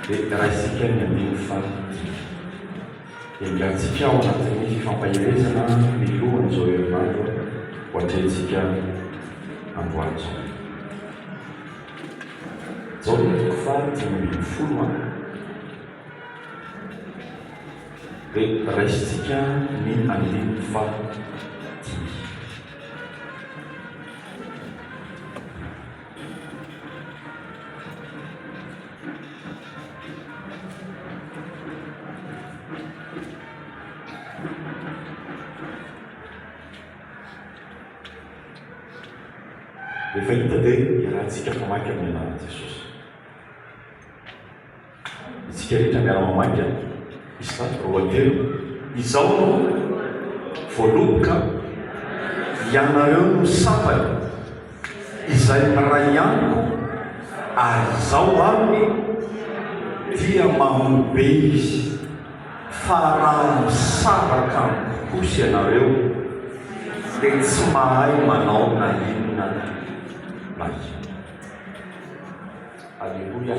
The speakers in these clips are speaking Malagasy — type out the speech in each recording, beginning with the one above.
dia raisika ny andininy fahatelo. Engahintsika ao anatin'ny fifampaherezana milohan'izao herinandro ho atrehintsika androany izao. Jaona toko faha dimy ambin'ny folo a. Dia raisintsika ny andininy faha dimy. Efa hita ve iarahantsika mamaky amin'ny anaran'i Jesosy? Isika rehetra miara-mamaika izany lohateny izao no voaloboka, Ianareo no sampany izay miray amiko ary izaho aminy dia mamobe izy, fa raha misaraka amiko kosa ianareo dia tsy mahay manao na inona na inona. Aleloia!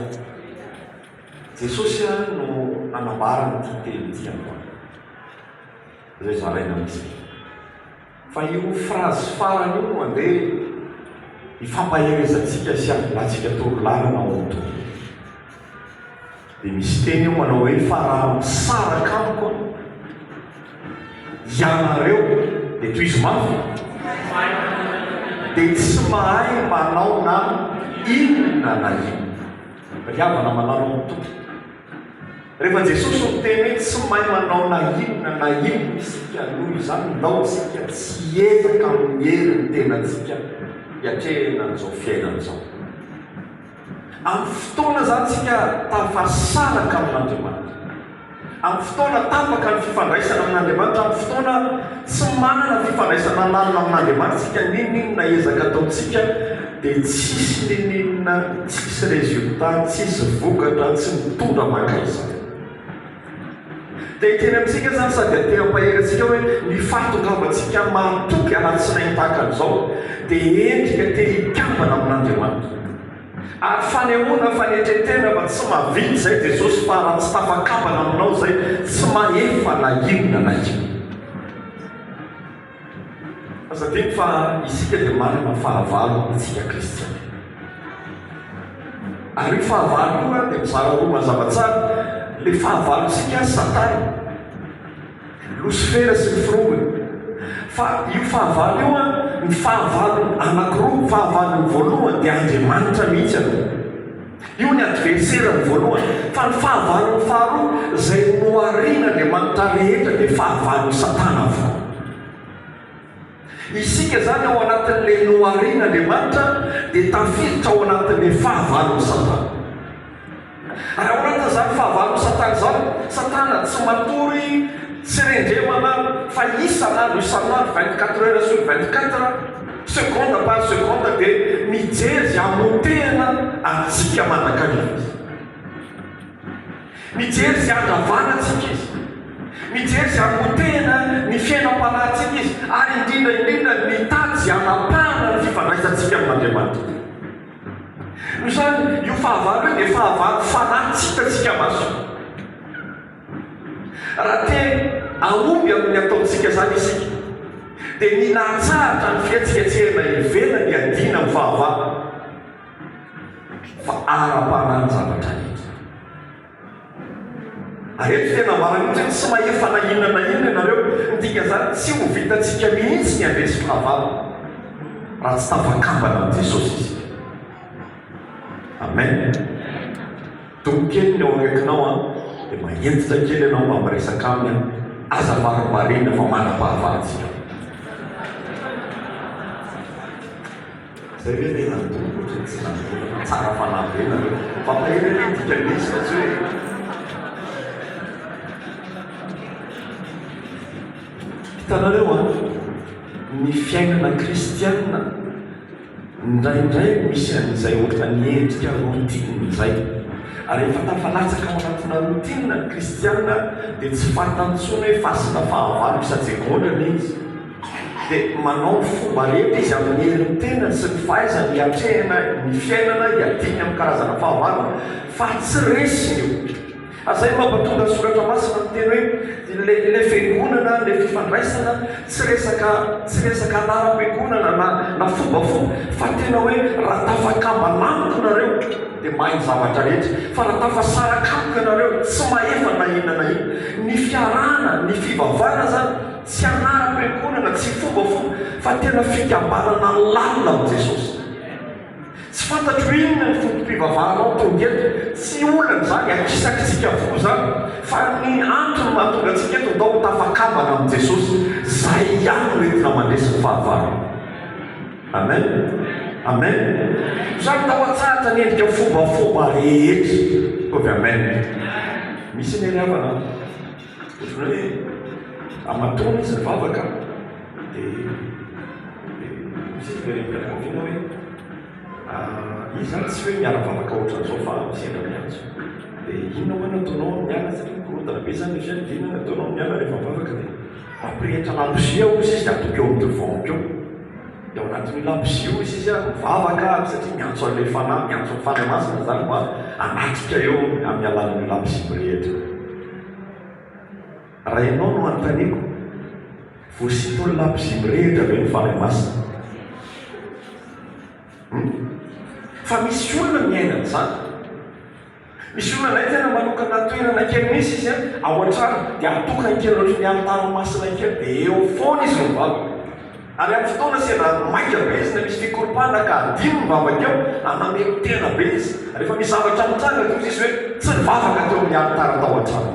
Jesosy ary no anambara an'ity teny ity aman izay zaraina amintsika. Fa io phrase farany io no ande hifampaherezantsika sy hambilantsika toro lalana ao amin'ny Tompo. Dia misy teny eo manao hoe, fa raha misaraka amiko ianareo, dia tohizo mafy, dia tsy mahay manao na inona na inona. Ry havana, malalao ny Tompo. Rehefa Jesosy no miteny hoe tsy mahay manao na inona na inona isika, noho izany ndao isika tsy hiezaka amin'ny herin'ny tenantsika hiatrehina an'izao fiainana izao. Amin'ny fotoana izany isika tafasaraka amin'Andriamanitra. Amin'ny fotoana tapaka ny fifandraisana amin'Andriamanitra, amin'ny fotoana tsy manana fifandraisana lalina amin'Andriamanitra isika, n'inon'inona ezaka ataontsika dia tsisy n'inon'inona, tsisy résultat, tsisy vokatra, tsy mitondra mankaiza. Dia ekeny amintsika izany sady atehampahery antsika hoe ny fahatongavantsika mahatoky alatsinainy tahaka an'izao dia endrika te hikambana amin'Andriamanitra. Ary fanehoana fanetren-tena fa tsy mahavita izay Jesosy fa raha tsy tafakambana aminao izay tsy mahefa na inona na inona. Aza adino fa isika dia manana fahavalo isika kristiana. Ary io fahavalo io dia mizara roa mazava tsara, ilay fahavalontsika ary satana, losifera sy ny firongony. Fa io fahavalo io an, ny fahavalo anakiroa, fahavalony voalohany dia Andriamanitra mihitsy aloha. Io ny adverserany voalohany, fa ny fahavalony faharoa, izay noharian'Andriamanitra rehetra dia fahavalon'i Satana avokoa. Isika izany ao anatin'ilay noharian'Andriamanitra dia tafiditra ao anatin'ilay fahavalon'i Satana. Ary ao anatin'izany fahavalon'i Satana izany, Satana tsy matory tsy rendremana fa isan'andro isan'andro, vingt-quatre heures sur vingt-quatre, Seconde par seconde dia mijery izay hamotehana antsika mandrakariva izy. Mijery izay handravana antsika izy. Mijery izay hamotehana ny fiainam-panahintsika izy ary indrindra indrindra mitady izay hanapahana ny fifandraisantsika amin'Andriamanitra. Noho izany, io fahavalo io dia fahavalo fanahy tsy hitantsika maso. Raha te hahomby amin'ny ataontsika izany isika, dia mila hatsahatra ny fihetsiketsehana ivelan'ny hiadiana amin'ny fahavalo, fa ara-panahy ny zavatra rehetra. Ary eto dia nambarany ohatra hoe, Tsy mahefa na inona na inona ianareo. Ny dikan'izany, tsy ho vitantsika mihitsy ny handresy fahavalo, raha tsy tafakambana amin'i Jesosy isika. Amen. Dobo kely ny ao akaikinao an, dia mahentitra kely ianao mba miresaka aminy an, aza varimbariana fa manam-pahavalon tsika. Zay ve tena ny dobo ohatry ny tsy nandrobaka fa tsara fanahy be nareo. Mampahery anie ny dikany misy fa tsy hoe. Hitanareo an, ny fiainana kristiana. Indraindray misy an'izay ohatran'ny endrika routine izay. Ary rehefa tafalatsaka ao anatina routine ny kristiana dia tsy fantany intsony hoe fasina fahavalo isa-tsegondra anie izy. Dia manao ny fomba rehetra izy amin'ny herin'ny tenany sy ny fahaizany hiatrehana ny fiainana hiadiany amin'ny karazana fahavalo fa tsy resiny io. Azay mampatonga soratra masina miteny hoe ilay ilay fiangonana, ilay fifandraisana, tsy resaka tsy resaka anaram-piangonana na na fombafomba fa tena hoe raha tafakambana amiko nareo dia mahay ny zavatra rehetra fa raha tafasaraka amiko ianareo tsy mahefa na inona na inona. Ny fiarahana, ny fivavahana zany tsy anaram-piangonana, tsy fombafomba fa tena fikambanana lalina amin'i Jesosy. Tsy fantatro inona ny foto-pivavahanao tonga eto, tsy olana izany, akisakisika avokoa izany, fa ny antony mahatonga antsika eto ndao ho tafakambana amin'i Jesosy, izay ihany no entina mandresy ny fahavalo. Amen! Amen! Izany ndao atsahatra ny endrika fobafoba rehetra. Ataovy Amen! Misy ny aniavana an! Izy hoe amatoana izy mivavaka dia misy izy very am-pianakaviana hoe izy ary tsy hoe miara-mivavaka ohatran'izao fa sendra miantso dia inona hoe nataonao amin'ny alina satria mikorontana be izany ny fiainana dia inona nataonao amin'ny alina rehefa mivavaka dia mampirehitra labozia hoy izy izy dia atoko eo amin'ny devant-ko eo dia ao anatin'io labozia hoy izy izy ary mivavaka ary satria miantso an'ilay fanahy miantso ny fanahy masina izany mba hanatrika eo amin'ny alalan'io labozia mirehitra io Raha ianao no anontaniako, voasintony labozia mirehitra ve ny Fanahy Masina? Hum? Fa misy olona miaina an'izany. Misy olona indray tena manokana toerana kely misy izy an, ao an-trano, dia atokany kely ohatry ny alitara masina kely, dia eo foana izy no mivavaka. Ary amin'ny fotoana sy andro maika be izy, na misy fikoropahana ka adino ny vavaka eo, ary namelontena be izy, ary efa misy zavatra mitranga, dia hoy izy hoe, Tsy nivavaka teo amin'ny alitara tao an-trano.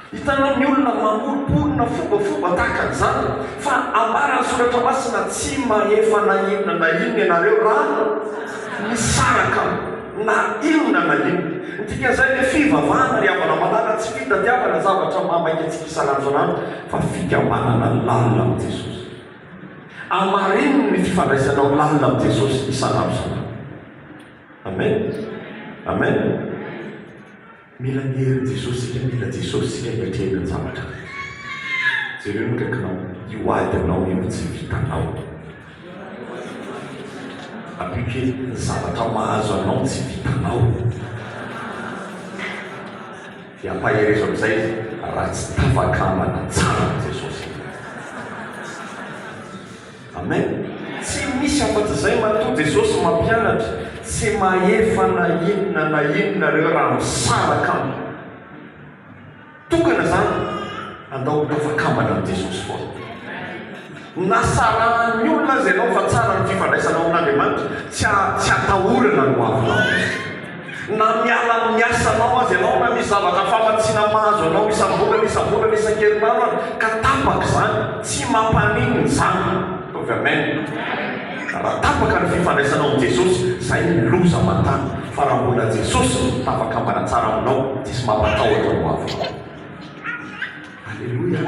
Hitanao ny olona mamoromporona fombafomba tahaka an'izany, fa ambaran'ny Soratra Masina, Tsy mahefa na inona na inona ianareo raha misaraka na inona na inona. Ny dikan'izay dia fivavahana, ry havana malala, tsy fitadiavana zavatra maha maika antsika isan'andro isan'andro. fa fikabanana lalina amin'i Jesosy. Amareniny ny fifandraisanao lalina amin'i Jesosy isan'andro isan'andro. Amen! Amen! Mila ny herin'i Jesosy isika, mila Jesosy isika hiatrehina ny zavatra rehetra. Jereo ny akaikinao, io adinao io tsy vitanao. Apio kely, ny zavatra mahazo anao tsy vitanao. Dia ampaherezo amin'izay raha tsy tavakambana tsara amin'i Jesosy ianao. Amen! Tsy misy afa-tsy izay matoa Jesosy mampianatra, tsy mahefa na inona na inona ireo raha misaraka aminy. Tokana izany, andao ho tavakambana amin'i Jesosy foana. Nasarahan'ny olona aza ianao fa tsara ny fifandraisanao amin'Andriamanitra, tsy tsy atahorana ny hoavinao. Na miala amin'ny asanao aza ianao, na misy zavatra famatsiana mahazo anao isam-bolana, isam-bolana, isan-kerinandro ary ka tapaka izany, tsy mampaninona izany. Ataovy Amen. Raha tapaka ny fifandraisanao amin'i Jesosy, izay ny loza aman-tany. Fa raha mbola Jesosy no tafakambana tsara aminao, diso mampatahotra ny hoavinao. Aleloia!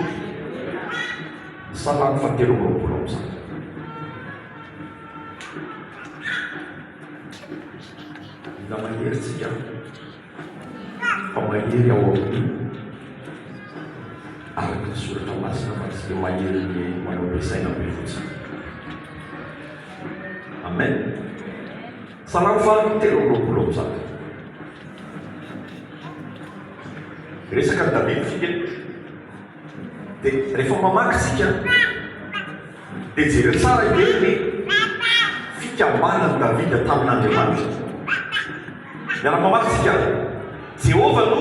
Salamo fahatelo amby roapolo amby zato. Mila mahery tsika fa mahery ao amin'ny araka ny soratra masina fa tsy dia mahery ny manao be saina be fotsiny. Amen. Salamo faharoa telo amby roapolo amby zato. Resaka an'i David fiteto. Dia rehefa mamaky isika dia jereo tsara hoe ny fikambanan'i David tamin'Andriamanitra. Miara-mamaky isika. Jehovah no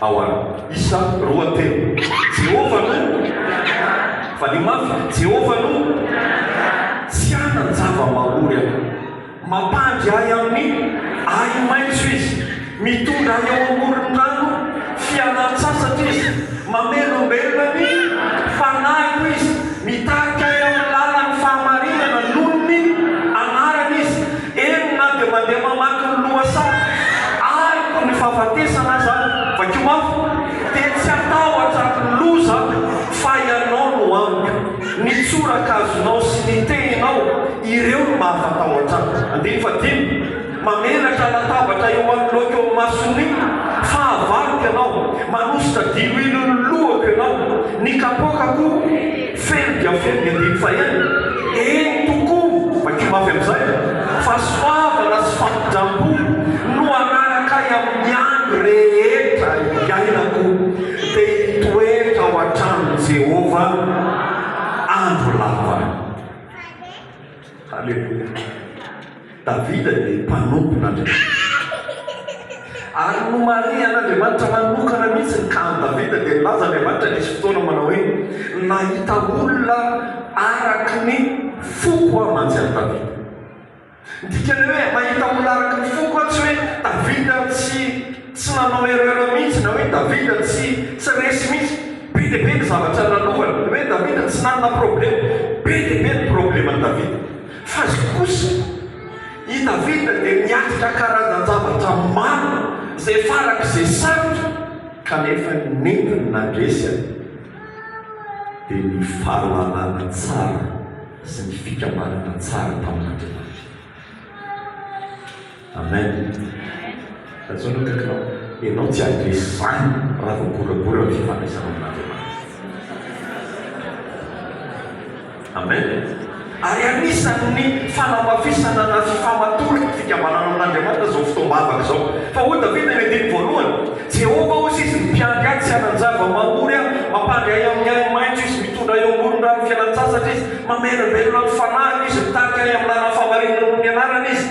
Ao an. Isa roa telo. Jehovah no Mpanandraharaha. Valio mafy, Jehovah no Mpanandraharaha. Tsy hanan-java-mahaory aho. Mampandry ahy amin'ny ahi-maitso izy. Mitondra ahy eo amoron'ny rano fialan-tsasatra izy. Mamelombelona ny fanahiko izy. Mitarika ahy amin'ny lalan'ny fahamarinana noho ny anarany izy. Eny na dia mandeha mamaky ny lohasaha araka ny fahafatesana aza, vakio mafy, dia tsy hatahotra ny loza fa ianao no amiko, ny tsorakazonao sy ny tehinao, ireo no mahafatahotra ahy. Andininy fahadimy, Mamelatra latabatra eo anoloako eo imason'ny fahavaloko ianao, manosika diloilo ny lohako ianao, ny kapoakako. Feno dia feno ny andininy fahenina, eny tokoa, vakio mafy amin'izay, fa soavana sy fampindram-po no hanaraka ahy amin'ny andro rehetra iainako, dia hitoetra ao an-tranon'i Jehovah andro lava. Haleloia! Davida dia mpanompon'Andriamanitra. Ary nomarihan'Andriamanitra manokana mihitsy ny kan'i Davida, dia nilaza Andriamanitra nisy fotoana manao hoe, Nahita olona araka ny foko aho mantsy an'i Davida. Ny dikan'ny hoe mahita olona araka ny foko aho tsy hoe Davida tsy Tsy nanao erreur mihitsy na hoe Davida tsy tsy resy mihitsy, be dia be ny zavatra lalovany, ny hoe Davida tsy nanana problema, be dia be ny probleman'i Davida, fa zay kosa i Davida dia niatrika karazan-javatra maro izay farak'izay sarotra kanefa ny nentiny nandresy an dia ny fahalalana tsara sy ny fikambanana tsara tamin'Andriamanitra. Amen Rajono akaiky nao enao tsy adresy zany raha vao goragora ny fifandraisana amin'Andriamanitra Amen Ary anisan'ny fanamafisana na fifamatorana ny fikambanana amin'Andriamanitra zao fotoam-bavaka zao Fa hoy Davida eny andininy voalohany, Jehovah hozy izy mipiandry ahy tsy hanan-java mahory aho, mampandry ahy amin'ny ainy maitso izy, mitondra ahy eo ambonin'ny rano fialan-tsasatra izy, mamelabelona ny fanahiko izy, mitarika ahy amin'ny lalan'ny fahamarinana noho ny anarany izy.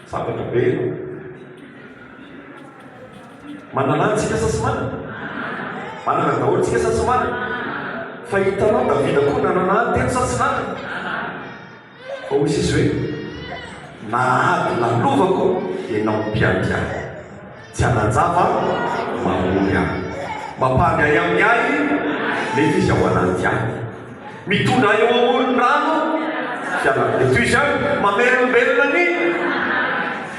Sabatra be e. Manana an tsika sa tsy manana? Manana daholo tsika sa tsy manana? Fa hitanao Davida koa nanana an telo sa tsy nanana? Fa hoy Jesosy hoe, na ady lalovako ianao mpiady ahy. Tsy hanan-java mamory ahy. Mampangay amin'ny ainy nefa izy ao anaty ahy. Mitondra ahy eo amoron'ny rano fialako. Dia toy izany mamelombelona ny ahy.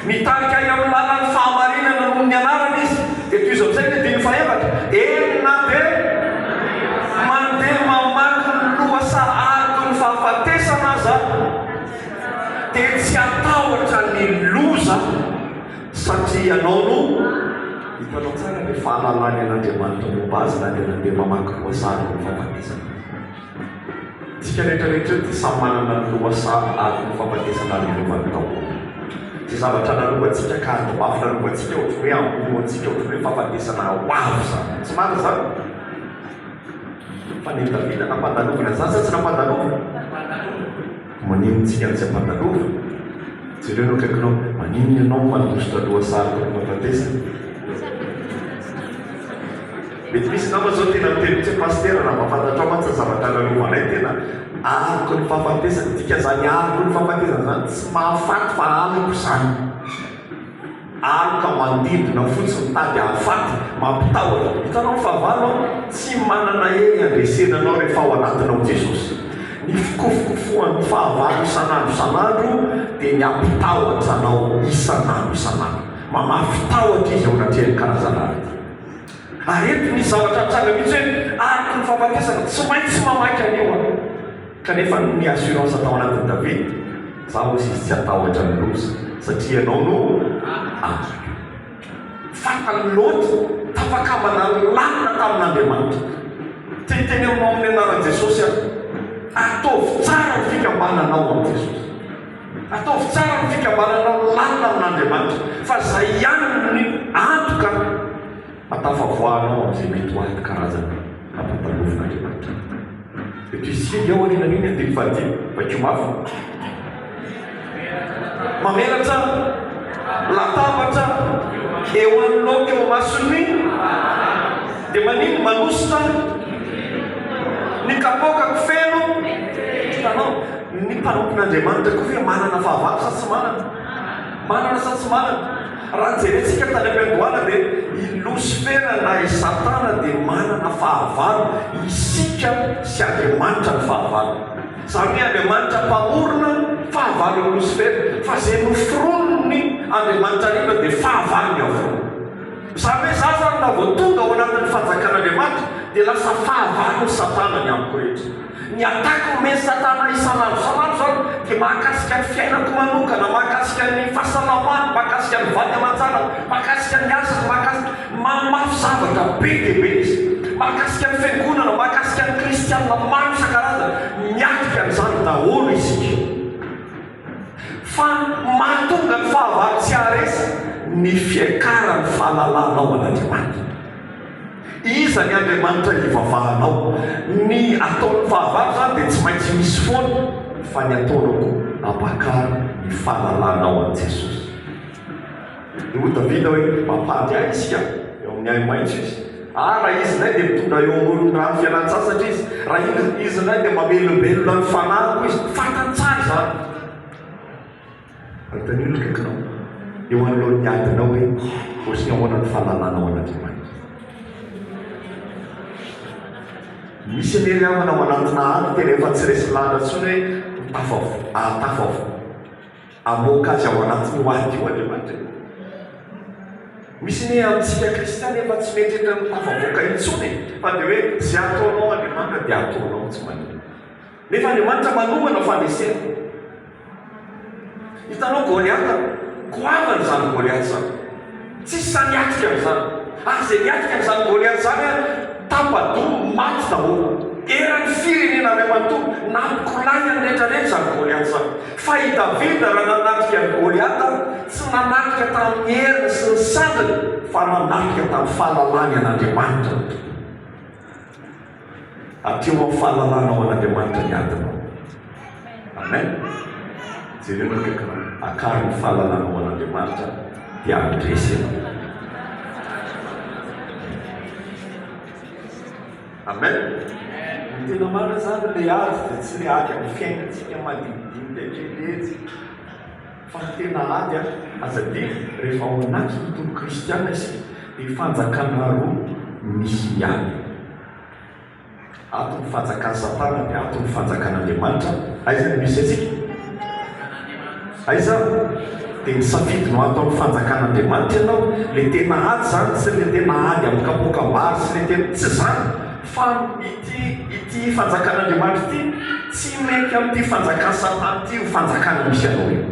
Mitarika ahy amin'ny lalan'ny fahamarinana noho ny anarany izy. Dia tohizo amin'izay ny andininy fahefatra. Eny na dia mandeha mamaky ny lohasahariko ny fahafatesana aza aho dia tsy hatahotra ny loza. Satria ianao no hitanao tsara ny fahalalany an'Andriamanitra momba azy na dia nandeha mamaky lohasaha ny fahafatesana aza. Isika rehetra rehetra eto dia samy manana ny lohasaha ary ny fahafatesana nalovan'ny Taoba. Izay zavatra nalovantsika ka ady mafy nalovantsika ohatry ny hoe hamoro antsika ohatry ny hoe fahafatesana ho avy izany. Tsy marina izany? Fa ny an'i Davida nampandalovina izany sa tsy nampandalovina? Maninona antsika no tsy ampanalova? Jereo eo akaikinao, maninona ianao mandositra loha sarotra ny fahafatesana? Mety misy nama zao tena miteny mitsy hoe Pasitera raha mba fantatrao mantsy ny zavatra lalova anay tena aroko ny fahafatesana, dika zany aroko ny fahafatesana zany tsy mahafaty fa aroko zany. Ary ka manodidina fotsy mitady hahafaty, mampitahotra. Hitanao ny fahavalo an? Tsy manana hery handresena anao rehefa ao anatinao Jesosy. Ny fikofokofoan'ny fahavalo isan'andro isan'andro dia ny hampitahotra anao isan'andro isan'andro. Mamafy tahotra izy ao anatrehan'ny karazana arety. Ary eto misy zavatra nitranga mihitsy hoe araka ny fahafatesana. Tsy maintsy mamaky an'io aho. Kanefa noho ny assurance tao anatin'i Davida, za hoy izy tsy hatahotra ny loza, satria ianao no andriko. Fatan'i Lota, tafakambana lalina tamin'Andriamanitra. Te hiteny aminao amin'ny anaran'i Jesosy aho, ataovy tsara ny fikambananao amin'i Jesosy. Ataovy tsara ny fikambananao lalina amin'Andriamanitra, fa zay ihany no antoka Atafavoahanao amin'izay mety ho ady karazana hampatalovin'Andriamanitra. Eto singa ao aoriana mihiny andininy fahadimy. Vakio mafy. Mamelatra latabatra eo amin'ny loka eo imason'ny dia manino manosika ny kapokako feno tanao. Ny mpanompon'Andriamanitra koa ve manana fahavalo sa tsy manana? Manana sa tsy manana? Raha jerentsika tany am-piandohana dia i Losifera na i Satana dia manana fahavalo, isika sy Andriamanitra no fahavalo. Izany hoe Andriamanitra mpamorona fahavalon'i Losifera, fa izay noforonin'i Andriamanitra hariva dia fahavalony avokoa. Izany hoe za zany raha vao tonga ao anatin'ny fanjakan'Andriamanitra dia lasa fahavalon'i Satana ny amiko rehetra. Ny attaque omen'i Satana isan'andro isan'andro izany dia mahakasika ny fiainako manokana, mahakasika ny fahasalamako, mahakasika ny vady aman-janako, mahakasika ny asako, mahakasika. Mamafy zavatra be dia be izy. Mahakasika ny fiangonana, mahakasika ny kristiana maro isan-karazany. Miatrika an'izany daholo isika. Fa mahatonga ny fahavalo tsy haharesy ny fiakaran'ny fahalalana ao an'Andriamanitra. Iza ny Andriamanitra hivavahanao? Ny ataon'ny fahavalo izany dia tsy maintsy misy foana, fa ny ataonao koa ampakaro ny fahalalanao an'i Jesosy. Dia hoy Davida hoe, Mampandry ahy Izy ka, eo amin'ny ahi-maitso Izy. Ary raha Izy indray dia mitondra eo amoron'ny rano fialan-tsasatra Izy. Raha Izy indray dia mamelombelona ny fanahiko Izy. Fantany tsara izany. Anontanio ny akaikinao, eo anoloan'ny adinao hoe, Ohatry ny ahoana ny fahalalana ao an'Andriamanitra? Misy anie ry havana ao anatina ady tena efa tsy resy lahatra intsony hoe ho tafavoaka, hahatafavoaka. Hamoaka azy ao anatin'io ady io Andriamanitra e. Misy anie amintsika kristiana efa tsy mieritreritra ny ho tafavoaka intsony e, fa dia hoe izay ataonao Andriamanitra dia ataonao, tsy maninona. Nefa Andriamanitra manongana fanesena. Hitanao Goliata? Goavana izany Goliata izany. Tsisy sahy niatrika an'izany. Ary izay niatrika an'izany Goliata izany an, tapa-doha, maty daholo. Eran'ny firenena iray manontolo, nampikolay an'ny rehetrarehetra izany Goliata izany. Fa i Davida raha nanatrika an'i Goliata, tsy nanatrika tamin'ny heriny sy ny sandriny, fa nanatrika tamin'ny fahalalany an'Andriamanitra ny Tompo. Aty ho amin'ny fahalalana ao an'Andriamanitra ny adinao. Amen. Jereo ny akaikinao. Akaro ny fahalalana ao an'Andriamanitra dia handresy ianao. Amen. Ny tena marina izany ilay ady dia tsy ilay ady amin'ny fiainantsika madinidinika kely etsy. Fa ny tena ady ary, aza adino, rehefa ao anaty ny toby kristiana isika, dia fanjakana roa misy miady. Ato ny fanjakan'i Satana dia ato ny fanjakan'Andriamanitra. Aiza no misy antsika? Aiza? Dia ny safidy no ato amin'ny fanjakan'Andriamanitra ianao. Ilay tena ady izany, tsy ilay tena ady amin'ny kapoakam-bary sy ilay tena, tsy izany. Fa ity ity fanjakan'Andriamanitra ity tsy mety amin'ity fanjakan'i Satana ity io fanjakana misy anao io.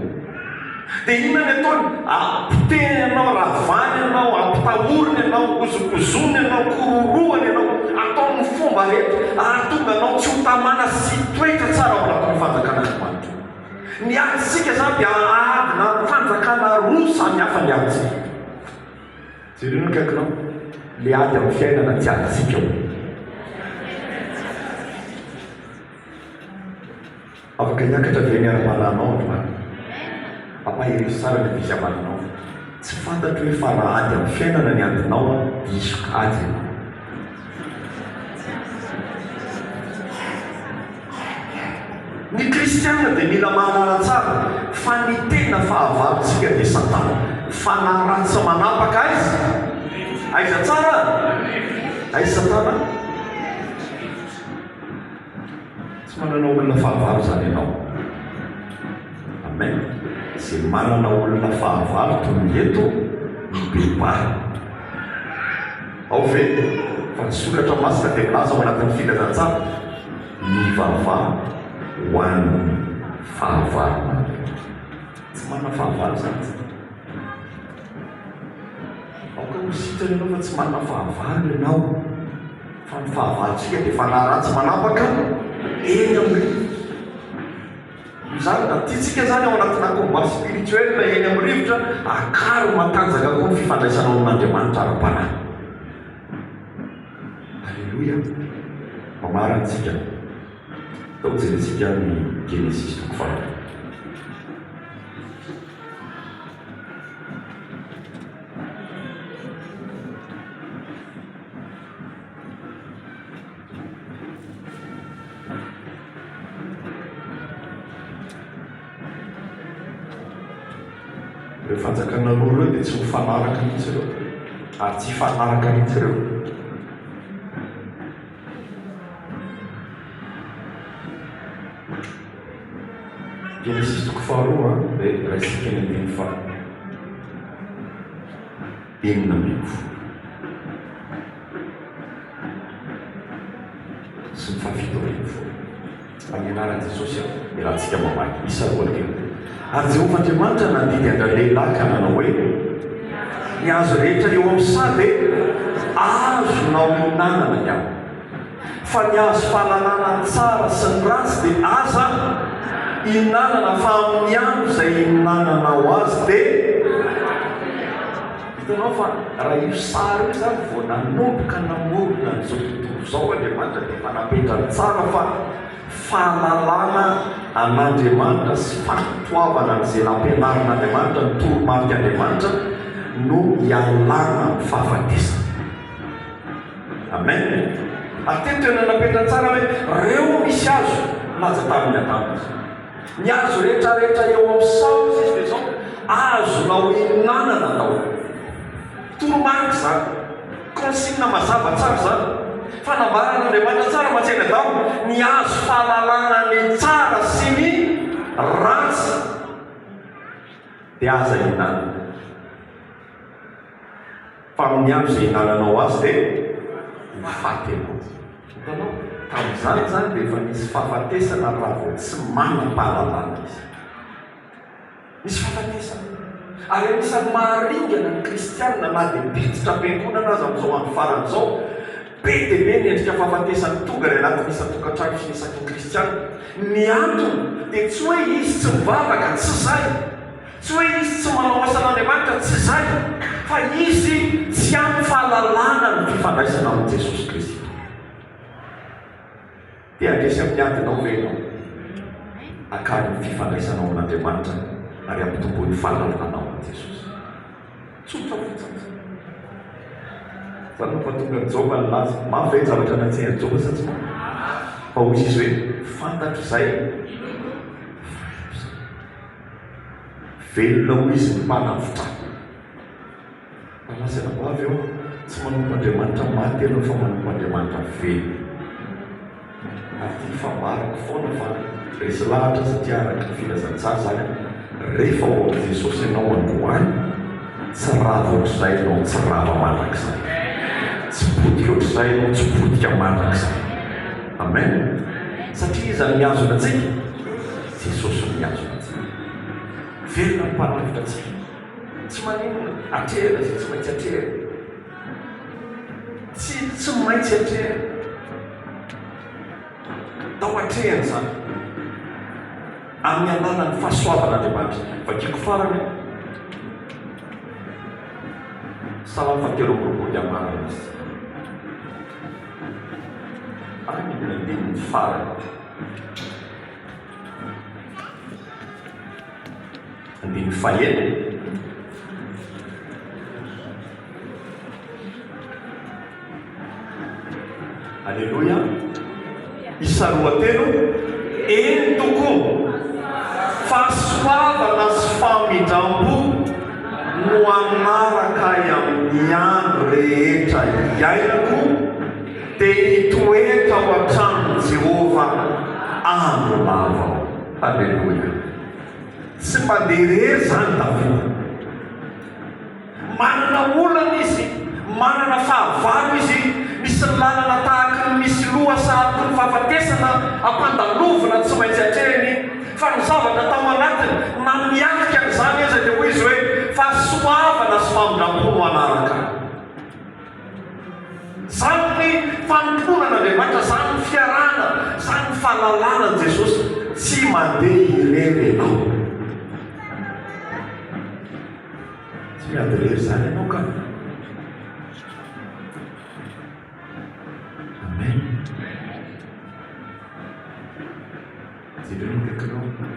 Dia inona ny ataony? Apotehiny ianao, ravàny ianao, ampitahoriny ianao, hozokozoniny ianao, kororohany ianao, ataony ny fomba rehetra hahatonga anao tsy ho tamana sy hitoetra tsara ao anatin'io fanjakan'Andriamanitra io. Ny adintsika izany dia adina fanjakana roa samy hafa ny adintsika. Jereo ny akaikinao, le ady amin'ny fiainana tsy azontsika o! Afaka hiakatra ve ny ara-panahinao androany? Ampaherezo tsara ny fisamarinao, tsy fantatro hoe fara ady amin'ny fiainana ny adinao an, diso kajy e! Ny kristiana dia mila mahalala tsara fa ny tena fahavalontsika dia satana. Fanahy ratsy manapaka aiza? Aiza tsara? Aiza satana? Tsy manana olona fahavalo izany ianao. Amen. Izay manana olona fahavalo tonga eto mibebaha. Ao ve? Fa ny soratra masina dia milaza ao anatin'ny filazantsara ny vava ho an'ny fahavalona. Tsy manana fahavalo izany. Aoka ho sitrana ianao fa tsy manana fahavalo ianao. Fa ny fahavalontsika dia fanahy ratsy manapaka eny amin'ny rivotra. Io izany na tiantsika izany ao anatina combat spirituel eny amin'ny rivotra, akaro matanjaka koa ny fifandraisanao amin'Andriamanitra ara-panahy. Alléluia! Mamarana isika. Atao jerentsika ny Genesisy toko faharoa. Ireo fanjakana roa ireo dia tsy mifanaraka mihitsy ireo, ary tsy hifanaraka mihitsy ireo. Genesisy toko faharoa dia raisika ny andininy faharoa. enina ambin'ny folo sy ny fahafito ambin'ny folo. Amin'ny anaran'i Jesosy aho, iarahantsika mamaky isa roa arivo. Ary Jehovah Andriamanitra nandidy an-dralehilahy ka nanao hoe, Ny hazo rehetra eo amin'ny saha dia azonao hihinanana ihany. Fa ny azo fahalalana ny tsara sy ny ratsy dia aza ihinanana fa amin'ny andro izay ihinananao azy dia Hitanao fa raha io sary io izany vao nanomboka namorona an'izao tontolo izao Andriamanitra dia efa napetrany tsara fa fahalalana an'Andriamanitra sy fankatoavana an'izay nampianarin'Andriamanitra ny toromarik'Andriamanitra no ialana amin'ny fahafatesana. Amen. Ary teto tena napetra tsara hoe reo misy azo naja tamin'ny Adama izy. Ny azo rehetra rehetra eo amin'ny saho izy izy dia zao azonao ihinanana atao. Toromarika izany. Consigne mazava tsara izany. Fanambaran'Andriamanitra tsara matsy an'i Adama ny azo fahalalana ny tsara sy ny ratsy dia aza ihinanana. Fa amin'ny andro izay hinananao azy dia ho faty ianao. Hitanao? Tamin'izany izany dia efa nisy fahafatesana raha vao tsy manam-pahalalana izy. Nisy fahafatesana. Ary anisan'ny maharingana ny Kristianina, na dia mpiditra am-piangonana aza amin'izao andro farany izao, be dia be ny endrika fahafatesana tonga any anatin'ny isan-tokantrano sy ny isaky ny Kristianina. Ny antony dia tsy hoe izy tsy mivavaka, tsy izay. Tsy hoe izy tsy manao asan'Andriamanitra, tsy izay, fa izy tsy ampy fahalalana ny fifandraisana amin'i Jesosy Kristy. Te handresy amin'ny adinao ve ianao? Akary ny fifandraisanao amin'Andriamanitra ary ampitomboy ny fahalalanao amin'i Jesosy. Tsotra fotsiny izany. Izany no pahatongan'i Joba nilaza. Mafy ve ny zavatra niantsehan'i Joba sa tsy mafy? Fa hoy izy hoe, Fantatro izay inoako izay. Velona hoy izy ny mpanavotra. Malaza ho avy aho, tsy manompo Andriamanitra maty ianao fa manompo Andriamanitra velona. Ary ity fambarako foana fa resy lahatra satria araka ny filazantsara izany rehefa ao amin'i Jesosy ianao androany, tsy rava ohatr'izay ianao, tsy rava mandrakizay. Tsy potika ohatr'izay ianao, tsy potika mandrakizay. Amen! Satria iza no mihazona antsika? Jesosy no miantso antsika. Velona ny Mpanavotra antsika. Tsy maninona, atrehina izay tsy maintsy atrehina. Tsy, tsy maintsy atrehina. Tao atrehina izany. Amin'ny alalan'ny fahasoavan'Andriamanitra. Vakiko farany an. Salamo fahatelo amby roapolo dia marina izy. Any ny andininy farany. Andininy fahenina. Aleloia. Isa roa telo. Eny tokoa. Fahasoavana sy famindrampo no hanaraka ahy amin'ny andro rehetra iainako. Dia nitoetra tao an-tranon'i Jehovah andro maro aho. Haleloia! Tsy mandeha irery izany Davida. Manana olana izy, manana fahavalo izy, misy lalana tahaka ny misy loha sarobidy ny fahafatesana ampandalovina tsy maintsy atrehiny, fa ny zavatra tao anatiny na miatrika an'izany aza dia hoy izy hoe, Fahasoavana sy famindram-po no hanaraka ahy. Izany ny fanompoana an'Andriamanitra, izany ny fiarahana, izany ny fahalalana an'i Jesosy. Tsy mandeha irery ianao. Tsy miady irery izany ianao ka. Amen. Jereo ny akaikinao.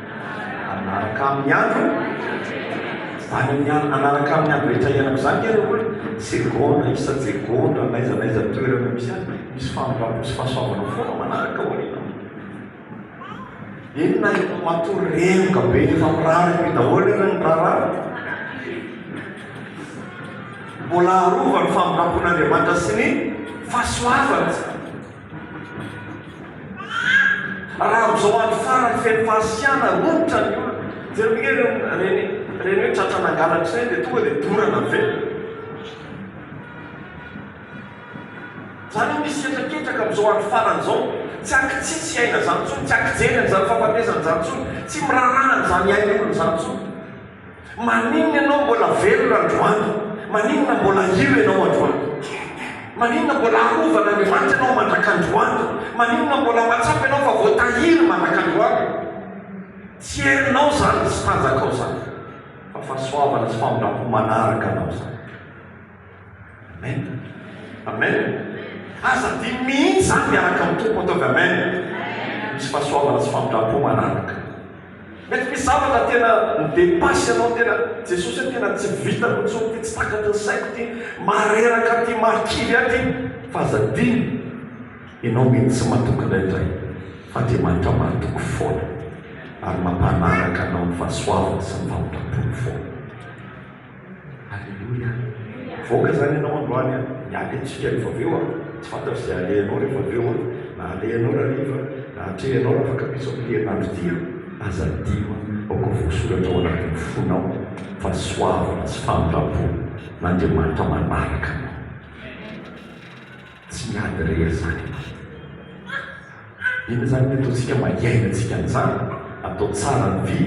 Hanaraka amin'ny andro, any amin'ny andro, hanaraka amin'ny andro rehetra iainako izany nge ireo olona, segondra isa-jegondra, n'aiza n'aiza toerana misy azy, misy famindrampo sy fahasoavana foana manaraka aoriana. Eny na eto matoa renoka be efa mirary be daholo ireo ny raharaha. Mbola arovan'ny famindrampon'Andriamanitra sy ny fahasoavany. Raha amin'izao andro farany feno fahasiana, romotra ny olona. Jereo ve ireo ireny ireny hoe tratra nangalatra ireny dia tonga dia dorana avy eo. Izany hoe misy hetraketraka amin'izao andro farany izao, tsy ankitsitsy hiaina izany intsony, tsy ankijery an'izany fahafatesana izany intsony, tsy miraharaha an'izany iain'ny olona izany intsony. Maninona ianao mbola velona androany? Maninona mbola hino ianao androany? Maninona mbola arovana ny maty ianao mandraka androany? Maninona mbola mahatsapa ianao fa voatahiry mandraka androany? Tsy herinao izany, tsy tanjakao izany, fa fahasoavana sy famindram-po manaraka anao izany. Amen. Amen. Aza adino mihitsy izany miaraka amin'ny Tompo ataovy amen. Misy fahasoavana sy famindram-po manaraka. Mety misy zavatra tena midepasy ianao tena Jesosy hoe tena tsy vitako intsony ity, tsy takatry ny saiko ity, mareraka ity, mahakivy ahy ity. Fa aza adino ianao mihitsy tsy mahatoky indraindray fa Andriamanitra mahatoky foana ary mampanaraka anao ny fahasoavany sy ny famindram-pony foana. Aleloia! Mivoaka izany ianao androany an! Ny alentsika rehefa avy eo an! Tsy fantatro izay alehanao rehefa avy eo an! Na alehanao rariva, na atrehinao raha fakan-piso amin'ity herinandro ity an! Aza adino an! Aoka voasoratra ao anatin'ny fonao fa soavina sy famindram-po, n'Andriamanitra manaraka anao. Tsy miady re izany e! Inona izany ny ataontsika mba hiainantsika an'izany? Atao tsara ny fi,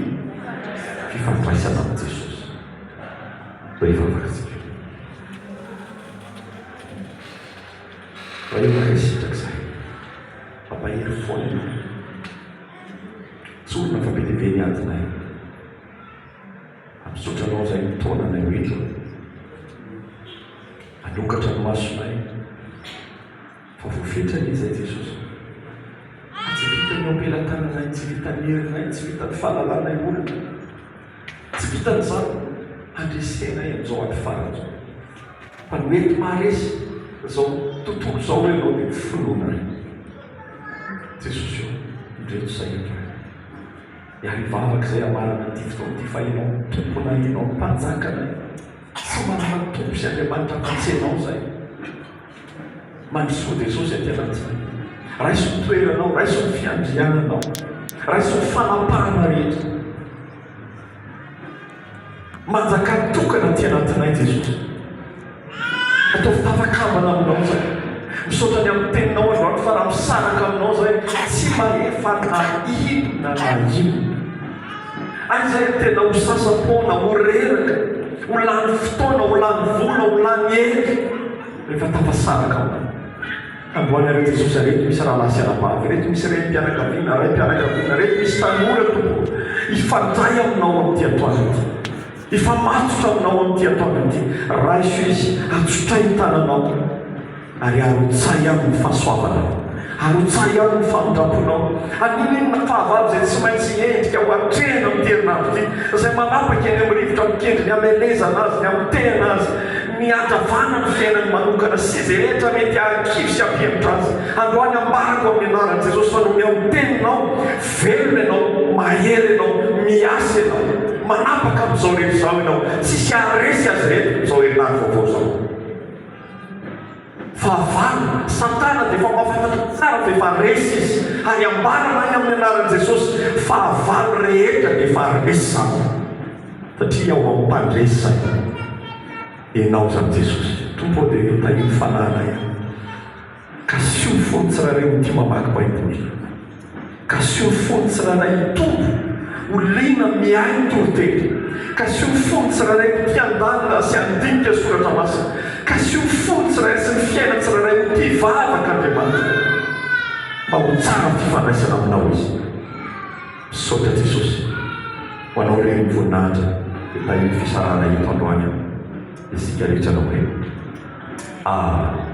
fifandraisana amin'i Jesosy. Mba hivavaka isika. Mba hivavaka isika izay. Mampahery fo anay Tompo. Tsorina fa be dia be ny adinay. Misaotra anao izay nitaona anay ho eto, nanokatra ny masonay fa voafetra anie izay Jesosy fa tsy vitan'ny ampelatananay, tsy vitan'ny herinay, tsy vitan'ny fahalalanay olona, tsy vitan'izany handresenay amin'izao andro farany izao fa ny mety maharesy izao tontolo izao hoe ianao dia finoana re Jesosy ô, indreto sahirana. Ary hivavaka izay hamarana ity fotoana ity fa Ianao Tomponay, Ianao Mpanjakanay. Tsy manana tompo sy Andriamanitra afa-tsy Ianao izay. Mandrosoa Jesosy aty anatinay. Raiso ny toeranao, raiso ny fiandriananao, raiso ny fanapahana rehetra. Manjaka tokana aty anatinay Jesosy. Ataovy tafakambana aminao zay. Misaotra ny amin'ny teninao androany fa raha misaraka aminao zay tsy mahefa na inona na inona. Ary zay ny tena ho sasa-poana, ho reraka, ho lany fotoana, ho lany vola, ho lany hery rehefa tafasaraka aminao. Amboarinareo Jesosy areto misy rahalahy sy anabavy reto misy renim-pianakaviana, raim-pianakaviana reto misy tanora tompoko hifandray aminao amin'ity atoandro ity hifamatotra aminao amin'ity atoandro ity raiso izy hatsotrahy ny tananao ary arotsahy aminy ny fahasoavanao arotsahy aminy ny famindramponao haninonina fahavalo izay tsy maintsy endrika ho atrehina amin'ity herinandro ity izay manapaka eny amin'ny rivotra mikendry ny hamelezana azy ny hamitehana azy Ny hatavana ny fiainany manokana sy izay rehetra mety hahakivy sy hampihemotra azy. Androany ambarako amin'ny anaran'i Jesosy fa nomeo ny Teninao, velona ianao, mahery ianao, miasa ianao. Manapaka amin'izao rehetra izao ianao. Tsisy haharesy azy ireto izao herinandro vaovao izao. Fahavalo, Satana dia efa mahafantatra tsara fa efa resy izy, ary ambarany any amin'ny anaran'i Jesosy, Fahavalo rehetra dia efa resy izany, satria ao amin'ny mpandresy izany ianao izany Jesosy. Tompo ô, dia tahian'ny fananay aho. Ka asio fo ny tsirairay ho tia mamaky Baiboly. Ka sy ho fony tsirairay hitombo ho liana miahy ny toriteny, ka sy ho fony tsirairay ho tia handalina sy handinika ny soratra masina, ka sy ho fony tsirairay sy ny fiaina tsirairay ho tia hivavaka Andriamanitra mba ho tsara ny fifandraisana aminao izy. Misaotra Jesosy ho anao irery ny voninahitra dia tahio fisarahana eto androany an! isika rehetra anao irery. Amen.